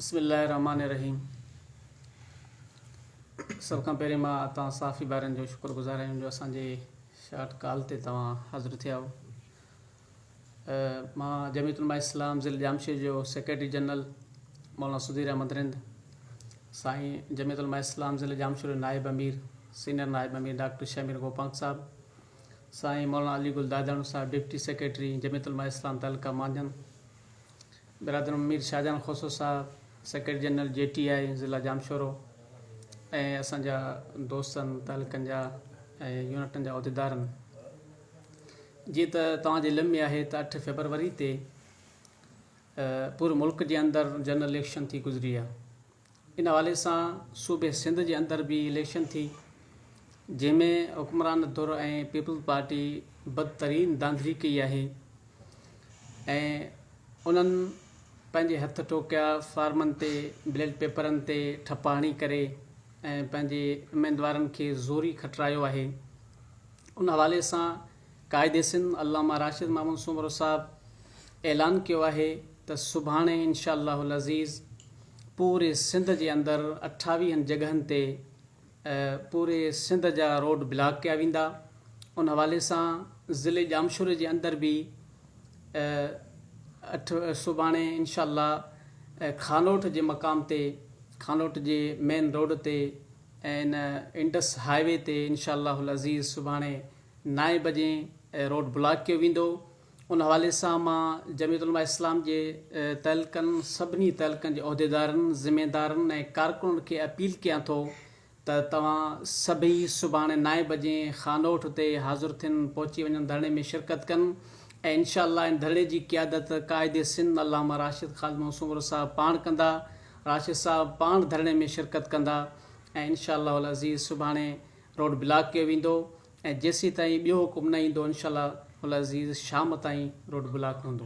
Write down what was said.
بسم الله الرحمٰن الرحيم سڀ کان پهرين مان توهان صحافي ڀائرن جو شڪر گذار آهيان جو اسان جي شارٽ ڪال تي توهان حاضر ٿيا آهو مان جميعت علماء اسلام ضلع ڄامشير جو سيڪريٽري جنرل مولانا سڌير احمد رند سائين جميعت علماء اسلام ضلع ڄامشير جو نائب امير سينئر نائب امير ڊاڪٽر شمير گوپانگ صاحب سائين مولانا علي گل داداڻو صاحب ڊپٽي سيڪريٽري جميعت علماء اسلام تعلقه مانجن برادر مير شاهجهان کوسو صاحب، secretary general J T I ضلع ڄامشورو ۽ اسان جا دوستن، تعلقن جا ۽ يونٽن جا عهديدارن. جيئن ته توهان جي علم ۾ آهي ته اٺ فيبروري تي پوري ملڪ جي اندر جنرل اليڪشن ٿي گذري آهي. ان حوالي سان صوبي سنڌ جي اندر به اليڪشن ٿي جنهن ۾ حڪمران ڌر ۽ پيپلز پارٽي بدترين ڌانڌلي ڪئي آهي ۽ انهن پنهنجي هٿ ٺوڪيا فارمن تي بليٽ پيپرن تي ٺپا هڻي ڪري ۽ پنهنجي اميدوارن کي زوري کٽرايو آهي ان حوالي سان قائد سنڌ علامه راشد محمود سومرو صاحب اعلان ڪيو آهي ته سڀاڻي انشاء الله العزيز پوري سنڌ جي اندر اٺاويهن جڳهن تي پوري سنڌ جا روڊ بلاڪ ڪيا ويندا ان حوالي سان ضلعي ڄامشوري جي اندر به سڀاڻي انشاء الله خانوٽ جي مقام تي خانوٽ جي مين روڊ تي ۽ ان انڊس هاء وي تي انشاء الله العزيز سڀاڻي نائين بجي روڊ بلاڪ ڪيو ويندو ان حوالي سان مان جمعيت علماء اسلام جي تعلقن سڀني تعلقن جي عهديدارن ذميدارن ۽ ڪارڪنن کي اپيل ڪيان ٿو ته توهان سڀئي سڀاڻي نائين بجي خانوٺ تي حاضر ٿين پهچي وڃن ڌرڻي ۾ شرڪت ڪن ۽ انشاء الله ان ڌرڻي جي قيادت قائد سنڌ علامه راشد خالد محمد سومرو صاحب پاڻ ڪندا راشد صاحب پاڻ ڌرڻي ۾ شرڪت ڪندا ۽ انشاء الله العزيز سڀاڻي روڊ بلاڪ ڪيو ويندو ۽ جيسين تائين ٻيو حڪم نه ايندو انشاء الله العزيز شام تائين روڊ بلاڪ هوندو.